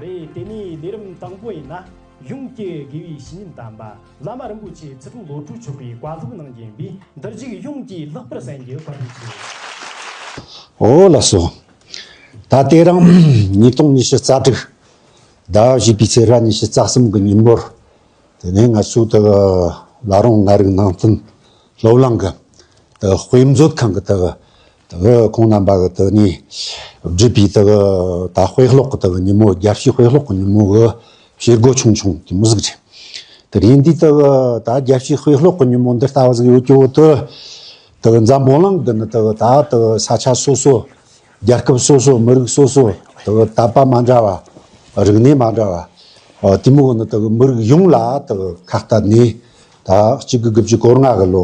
རེད་དེ་ནས་ལས་རིམ་དང་པོ་ཡིན་ན་གཞུང་སྐྱེ་དགེ་བའི་བཤེས་གཉེན་དམ་པ་བླ་མ་རིན་པོ་ཆེ་ཚེ་ཐུང་ལོ་དྲུག་ཆོག་པའི་བཀའ་སློབ་གནང་རྒྱུ་ཡིན་པས་འདིར་རྒྱུགས་གཞུང་གིས་ལྷག་པར་གསན་རྒྱུ་བཀའ་དྲིན་ཆེ། ཨོ་ལགས་སོ། ད་ལྟའི་རང་ཉིས་སྟོང་ཉི་ཤུ་རྩ་དྲུག་ཟླ་བཞི་པའི་ཚེས་ར་ཉི་ཤུ་རྩ་གསུམ་གི་ཉིན་མོར་དེ་ནས་ང་ཚོའི་དེ་གི་ལ་རོང་ང་རིག་ནང་བསྟན་སློབ་གླིང་གི་དེ་གི་དཔེ་མཛོད་ཁང་གི་དེ་གི་དེ་གི་ཁོང་རྣམ་པ་གི་དུ་ནས་བསྒྲིགས་པའི་དེ་གི་ད་དཔེ་ཀློག་གི་དེ་གི་ཉིན་མོ་རྒྱལ་སྤྱིའི་དཔེ་ཀློག་གི་ཉིན་མོ་གི་བྱེད་སྒོ་ཆུང་ཆུང་དེ་མི་གཟིགས་རེད། དེ་རིང་འདིའི་དེ་གི་ད་རྒྱལ་སྤྱིའི་དཔེ་ཀློག་གི་ཉིན་མོ་འདི་ལྟ་བུ་ཟིག་ཡོད་ཀྱི་འོག་ཏུ། དེ་གི་འཛམ་བུ་གླིང་འདི་ནི་དེ་གི་ད་དེ་གི་ས་ཆ་སོ་སོ། རྒྱལ་ཁབ་སོ་སོ་མི་རིགས་སོ་སོ་དེ་གི་དད་པ་མ་འདྲ་བ། རིག་གནས་མ་འདྲ་བ། དེ་མུག་ནི་དེ་གི་མི་རིགས་ཡོངས་ལ་དེ་གི་ཁ་བཏགས་ནས་ད་གཅིག་གི་དགུ་བཅུ་གོར་ལྔ་གི་ལོ་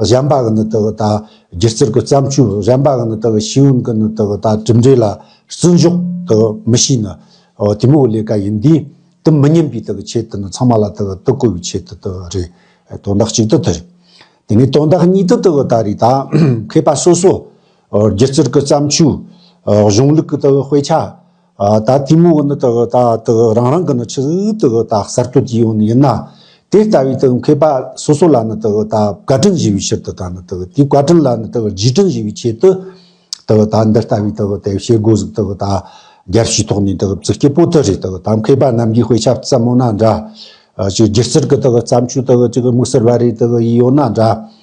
གཞན་པ་གི་ནི་དག་ད་སྒྱུ་རྩལ་གི་བརྩམས་ཆོས་གཞན་པ་གི་ནི་དག་ཤེས་ཡོན་གི་ནི་དག་ད་གྲུབ་འབྲས་ལ་བརྩི་འཇོག་དག་མི་བྱེད་ནི། དེ་མོའི་ལས་ཀ་ཡིན་དུས་དུ་མི་ཉན་པའི་དག་ཆེད་དུ་ནི་ཚང་མ་ལ་དག་བསྟོད་བཀུར་བའི་ཆེད་དུ་དག་རེད། དོན་དག་གཅིག་དུ་དེ་རེད། དེ་ནས་དོན་དག་གཉིས་དུ་དག་ད་རེད་ད། མཁས་པ་སོ་སོ། སྒྱུ་རྩལ་གི་བརྩམས་ཆོས། གཞུང་ལུགས་གི་དག་དཔེ་ཆ། ད་ལྟའི་མོ་ནི་དག་རང་རང་གི་ནི་ཆུ་དག་གསར་གཏོད་ཀྱི་ཡོང་ནི་ཡིན་ན། དེ་ལྟ་བུའི་དག་མཁས་པ་སོ་སོ་ལ་ནི་དག་བཀའ་དྲིན་བཞེས་པའི་ཕྱིར་དུ་ད་ནི་དག་དེའི་བཀའ་དྲིན་ལ་ནི་དག་རྗེས་དྲིན་བཞེས་པའི་ཆེད་དུ། དག་ད་འདི་ལྟ་བུའི་དག་དེ་བྱེད་སྒོ་ཟིག་དག་ད་རྒྱར་བྱས་ཐོག་ནས་དག་བརྩི་སྐད་པོ་ཏི་རེ་དག་ད་མཁས་པ་རྣམས་ཀྱི་དཔེ་ཆ་བརྩམ་མོ་ན་འདྲ། ཅིག་སྒྱུ་རྩལ་གྱི་དག་བརྩམས་ཆོས་དག་ཅིག་དམིགས་བསལ་བ་རེ་དག་ཡིད་ཡོད་ན་འདྲ།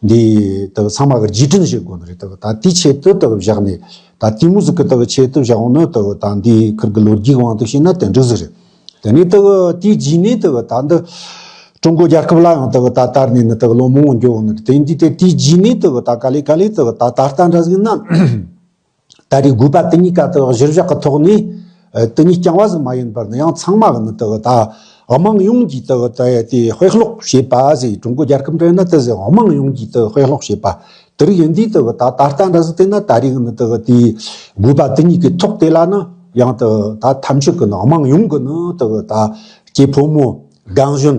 འདི་དག་ཚང་མ་རྗེས་དྲན་བྱེད་དགོས་ནི་རེད་དག་ད་དེའི་ཆེད་དུ་དག་བཞག་ནས་ད་དེའི་མུ་ཟི་གི་དག་ཆེད་དུ་བཞག་འོ་ནི་དག་ད་འདི་ཁུལ་གི་ལོ་རྒྱུས་དབང་དུ་བྱས་ན་དེ་འགྲིག་ཟི་རེད། དེ་ནས་དག་དེའི་རྗེས་ནས་དག་ད་འདི་ཀྲུང་གོ་རྒྱལ་ཁབ་ལ་ཡང་དག་ད་དར་ནས་ནི་དག་ལོ་མང་བོ་འགྱོ་འོ་ནི་རེད་དེ་འདི་དེ་དེའི་རྗེས་ནས་དག་ད་ག་ལེ་ག་ལེ་དག་ད་ད་ལྟ་འདྲ་ཟིག་ན། ད་རེས་དགོས་པ་དེ་གཉིས་ཀ་དག་གཞིར་བཞག་གི་ཐོག་ནས་དེ་གཉིས་རྐྱང་བ་ཟིག་མ་ཡིན་པར་ནི་ཡང་ཚང་མ་གི་ནི་དག་ད་དམངས་ཡོངས་ཀྱིས་དག་ད་དེ་དཔེ་ཀློག་བྱེད་པ་ཟིག་ཀྲུང་གོ་རྒྱལ་ཁབ་འདྲེ་ནི་དེ་ཟིག་དམངས་ཡོངས་ཀྱིས་དེ་དཔེ་ཀློག་བྱེད་པ་དེ་རིགས་ཡིན་དུས་དག་ད་ད་ལྟ་འདྲ་ཟིག་དེ་ནི་ད་རེས་གི་ནི་དག་དེ་དགོས་པ་དེ་གཉིས་ཀའི་ཐོག་དེ་ལ་ནི་ཡང་དག་ད་ཐམས་ཅད་གི་ནི་དམངས་ཡོངས་གི་ནི་དག་ད་སྐྱེས་ཕོ་མོ་རྒན་གཞོན་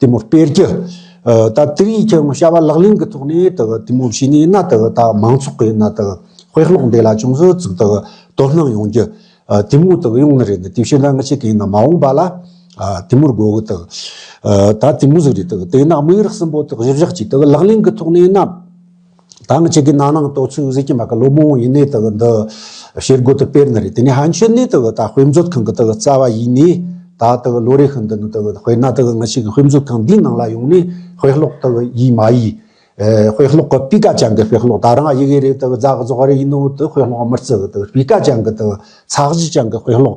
དེ་མོ་སྤེལ་རྒྱུ། ད་དེ་རིང་ཁྱེད་རང་བྱ་བ་ལག་ལེན་གྱི་ཐོག་ནས་དེ་མོ་བྱས་ནས་ན་དེ་ད་མང་ཚོགས་ཀྱི་ན་དེ་དཔེ་ཀློག་འདི་ལ་ཅུང་ཟོད་ཙིག་དེ་དོ་སྣང་ཡོང་རྒྱུ། དེ་མོ་དེ་ཡོང་ནི་རེད་དེ་བྱས་ན་ང་ཆེ་གེ་ཡིན་ན་མ་འོངས་པ་ལ་དེ་མོར་དགོས་གི་དེ། ད་དེ་མོ་ཟིག་རེད་དེ་དེ་ན་དམིགས་རག་གསུམ་པོ་དེ་གཞི་བཞག་ཅིག་དེ་ལག་ལེན་གྱི་ཐོག་ནས་ན། དང་གཅིག་གི་ནང་ནང་ལྟོ་ཚུགས་གཟིགས་ཀྱི་མ་ག་ལོ་མོང་ཡིན་ནའི་དག་འདི་ཤེལ་སྒོ་དུ་དཔེར་ན་རེད་དེ་ནས་ཧན་ཆོས་ནས་དག་ད་དཔེ་མཛོད་ཁང་གི་དག་རྩ་བ་ཡིན་ནའི་ད་དག་ལོ་རེ་ཤི་འདི་ནི་དག་དཔེར་ན་དག་ང་ཞིག་དཔེ་མཛོད་ཁང་འདིའི་ནང་ལ་ཡོང་ནའི་དཔེ་ཀློག་དག་ཡིད་མ་ཡིས། དཔེ་ཀློག་གི་སྤུས་ཀ་ཅང་གི་དཔེ་ཀློག་ད་རང་ཡི་གེ་རེ་དག་རྫག་རྫོགས་རེ་ཡིན་ནའོ་དེ་དཔེ་ཀློག་མི་རྩི་གི་དག་སྤུས་ཀ་ཅང་གི་དག་ཚགས་གཞི་ཅང་གི་དཔེ་ཀློག་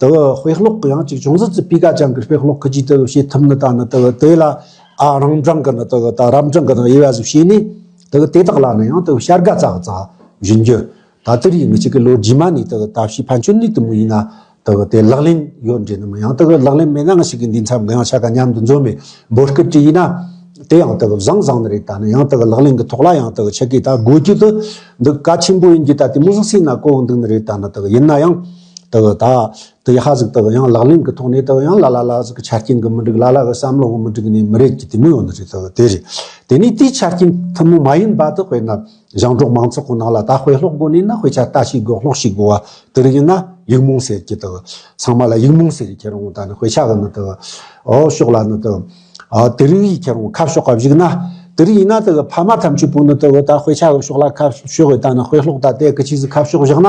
དེ་བས་དཔེ་ཀློག་གི་ཡང་གཅིག་བྱུང་ཟིན་ཚེ་སྤུས་ཀ་ཅན་གྱི་དཔེ་ཀློག་ཁུལ་གྱིས་དེ་བས་བྱེད་ཐུབ་ནི་དང་ནི་དེ་བས་དེ་ལ་རང་རྐྱང་གི་ནི་དེ་བས་རབ་འབྲིང་གི་ནི་དབྱེ་བ་གཟུགས་བྱས་ནས་དེ་བས་དེ་དག་ལ་ནི་ཡང་དེ་བས་བྱ་དགའ་ཙག་ཙག་བྱིན་རྒྱུ། ད་དུས་རིང་མི་གཅིག་གིས་ལོ་རྗེས་མ་ནས་དེ་བས་ཐབས་ཤེས་ཕན་ཆོད་ནུས་དུ་མ་ཡིན་ན་དེ་བས་དེ་ལག་ལེན་ཡོད་འགྲེལ་ནི་མ་ཡང་དེ་བས་ལག་ལེན་མེད་ན་འང་ཞིག་གིས་འདིའི་མཚམས་འགའ་ཡང་བྱ་དགའ་ཉམས་དུ་འཛོམས་པའི་འབོད་སྐུལ་དྲི་ཡིན་ན། དེ་ཡང་དེ་བས་བཟང་བཟང་ནི་རེད་ད་ནི་ཡང་དེ་བས་ལག་ལེན་གྱི་ཐོག་ལ་ཡང་དེ་བས་ཆེ་གེ་ད་དགོས་ཀྱི་དུ་འདུག་ག་ཆེན་པོ་ཡིན་རྒྱུ་ད་དེ་མུ་ཟིག་ཟིག་ན་གོ་འདུག་ནི་རེད་ད་ནི་དེ་བས་ཡིན་ན་ཡང། དེ་བས་ད། དེ་ཧ་ཟིག་དེ་བས་ཡང་ལག་ལེན་གྱི་ཐོག་ནས་དེ་བས་ཡང་ལ་ལ་ལ་ཟིག་གི་ཆ་རྐྱེན་གྱི་མི་འགྲིག་ལ་ལ་གི་བསམ་བློའང་མི་འགྲིག་ནས་མི་རེད་ཀྱི་དེ་མི་ཡོང་ནི་རེད་དེ་བས་དེ་རེད། དེ་ནས་དེའི་ཆ་རྐྱེན་ཐུན་མོང་མ་ཡིན་པ་དེ་དཔེར་ན། ཞིང་འབྲོག་མང་ཚོགས་ཀྱི་ནང་ལ་ད་དཔེ་ཀློག་དགོས་ནི་ན་དཔེ་ཆ་ལྟ་ཞིག་དགོས་ཀློག་ཞིག་དགོས་བ་དེ་རིགས་ཡིན་ན་ཡིག་རྨོངས་ཟེར་ཀྱི་དེ་བས། ཚང་མ་ལ་ཡིག་རྨོངས་ཟེར་ཡི་ཁྱེད་རང་ད་ནི་དཔེ་ཆ་གི་ནི་དེ་བས། འོ་ཤོག་ལ་ནི་དེ་བས། དེ་རིགས་ཡི་ཁྱེད་རང་ཁ་ཕྱོགས་ཀ་བཞུགས་ན། དེ་རིགས་ཡིན་ན་དེ་བས་ཕ་མ་ཐམས་ཅད་པོ་ནི་དེ་བས་ད་དཔེ་ཆ་གི་ཕྱོགས་ལ་ཁ་ཕྱོགས་ཡོད་ད་ནི་དཔེ་ཀློག་ད་ལྟའི་གི་ཆིག་ཟིག་ཁ་ཕྱོགས་བཞག་ན།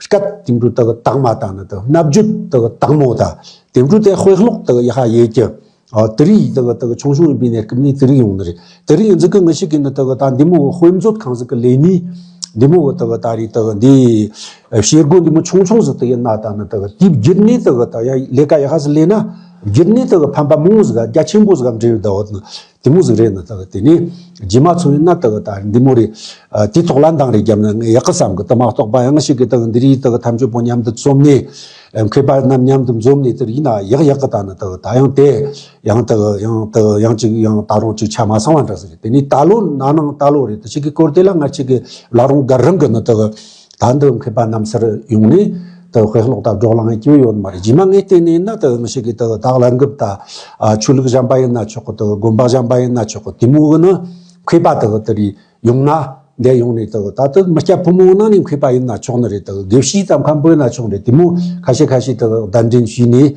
སྐབས་དེང་དུ་དག་བདག་མ་དང་ནི་དག་རྣལ་འབྱོར་དག་བདག་མོ་དང། དེང་དུ་དེ་དཔེ་ཀློག་དག་ཡེ་ཤ་ཡེ་ཀྱི། དེ་རིགས་དག་དག་ཆུང་ཆུང་ཡིན་པའི་ནས་སྐབས་ནས་དེ་རིགས་ཡོང་ནི་རེད། དེ་རིགས་ཡིན་ཟིག་གི་ངི་ཤིག་གིས་ནི་དག་ད་འདི་མོ་དཔེ་མཛོད་ཁང་ཟིག་གི་ལས་ནི། འདི་མོ་དག་ད་རེས་དག་འདི། བྱེད་སྒོ་འདི་མོ་ཆུང་ཆུང་ཟིག་དག་ཡིན་ན་དང་ནི་དག་དེའི་བརྒྱུད་ནས་དག་ད་ཡ་ལས་ཀ་ཡ་ཤ་ཟིག་ལས་ན། བརྒྱུད་ནས་དག་ཕན་པ་མང་བོ་ཟིག་ག་རྒྱ་ཆེན་པོ་ཟིག་ག་འབྲེལ་ཡོད་དག་འོ་ན། དེ་མོ་ཟིག་རེད་ན་ད་དེ་ནས་རྗེས་མ་ཚོ་ཡིན་ན་ད་ད་འདི་མོ་རེད། དེ་ཐོག་ལ་འདང་རེ་རྒྱབ་ན་ངས་ཡག་གི་བསམ་གི་ད་མ་གཏོགས་པ་ཡང་ཞིག་གི་ད་འདི་རིགས་ད་ཐམས་ཅད་པོ་མཉམ་དུ་བཙུམ་ནས་མཁས་པ་རྣམས་མཉམ་དུ་འཛོམས་ནས་དེར་ཡིན་ན་ཡག་ཡག་གི་ད་ན་ད་ད་ཡང་དེ་ཡང་ད་ཡང་ད་ཡང་ཅིག་ཡང་ད་རུང་ཅིག་ཆ་མ་ཚང་བ་འདྲ་ཟེར་རེད་དེ་ནས་ད་ལོ་ན་ནང་ད་ལོ་རེད་ད་ཅིག་གི་སྐོར་དེ་ལ་ང་ཅིག་གི་ལ་རུང་དགའ་རང་གི་ན་ད། དར་འདི་མཁས་པ་རྣམས་སར་ཡོང་ནས། དེ་དཔེ་ཀློག་དང་སྒྲོག་ལངས་ཀྱི་ཡོད་མ་རེད་རྗེས་མ་ངས་བལྟས་ནས་ན་དེ་མི་ཤེས་གི་དེ་བདག་ལ་འགུབ་ད། ཆོས་ལུགས་གཞན་པ་ཡིན་ན་ཆོག་གི་དེ་དགོན་པ་གཞན་པ་ཡིན་ན་ཆོག་གི་དེ་མོ་གི་ནི་མཁས་པ་དེ་དེ་རེད་ཡོང་ན། འདས་ཡོང་ནས་དེ་ད་དེ་མི་སྐྱ་ཕོ་མོ་ནང་ནས་མཁས་པ་ཡིན་ན་ཆོག་ནི་རེད་དེ་དགེ་བཤེས་ཙམ་གམ་པོད་ན་ཆོག་རེད་དེ་མོ་ཁ་ཤས་ཁ་ཤས་དེ་བདག་འདྲེན་བྱས་ནས།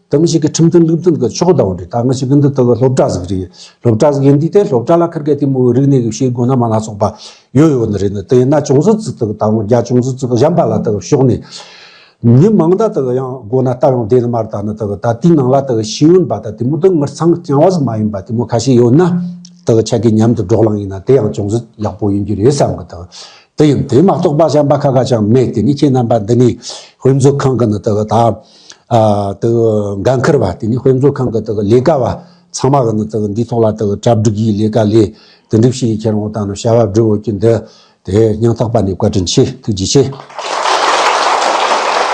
དེ་མི་ཞིག་གི་ཁྲིམས་མཐུན་ལུགས་མཐུན་གྱི་ཕྱོགས་གདའ་བ་རེད་ད་ང་ཞིག་གི་འདི་དག་སློབ་གྲྭ་ཟིག་རེད་སློབ་གྲྭ་ཟིག་ཡིན་དུས་དེ་སློབ་གྲྭ་ལ་ཁར་གས་དེ་མོའི་རིག་གནས་ཀྱི་བྱེད་སྒོ་སྣ་མང་སྣ་ཚོགས་པ་ཡོད་ཡོད་ནི་རེད་ནི་དེ་ཡིན་ན་ཅུང་ཟད་ཙི་ཏག་ད་ང་རྒྱ་ཅུང་ཟད་ཙི་ཏག་གཞན་པ་ལ་དག་ཞོག་ནས། མི་མང་ད་དག་ཡང་དགོ་ན་སྟབས་ཡང་བདེ་ནི་མ་རེད་ད་ནི་དག་ད་དེའི་ནང་ལ་དག་ཤེས་ཡོན་པ་ད་དེ་མོ་དག་ངར་ཚང་རྐྱང་བ་ཟིག་མ་ཡིན་པ་དེ་མོ་ཁ་ཤས་ཡོད་ན་དག་ཆ་གས་མཉམ་དུ་འགྲོགས་ལང་ཡིན་ན་དེ་ཡང་ཅུང་ཟད་ཡག་པོ་ཡིན་རྒྱུ་རེད་བསམ་གི་དག་དེ་ཡིན་དེ་མ་གཏོགས་པ་གཞན་པ་ཁ་ཁ་ཅང་མེད་དེ་ནི་ཁྱེད་རྣམ་པ་འདི་ནས་དཔེ་མཛོད་ཁང་གི་ནི་དག་ད། འགན་འཁུར་བ་དེ་ནི་དཔེ་མཛོད་ཁང་གི་ལས་ཀ་བ་ཚང་མ་གིས་ནི་འདིའི་ཐོག་ལ་གྲ་སྒྲིག་གི་ལས་ཀ་ལས་དེ་འགྲུབ་བྱེད་ཀྱི་ཁྱེད་རང་ངོ་དང་བྱ་བ་བསྒྲུབ་འོས་ཀྱི་འདི་དེ་སྙིང་ཐག་པ་ནས་བཀའ་དྲིན་ཆེ་ཐུགས་རྗེ་ཆེ།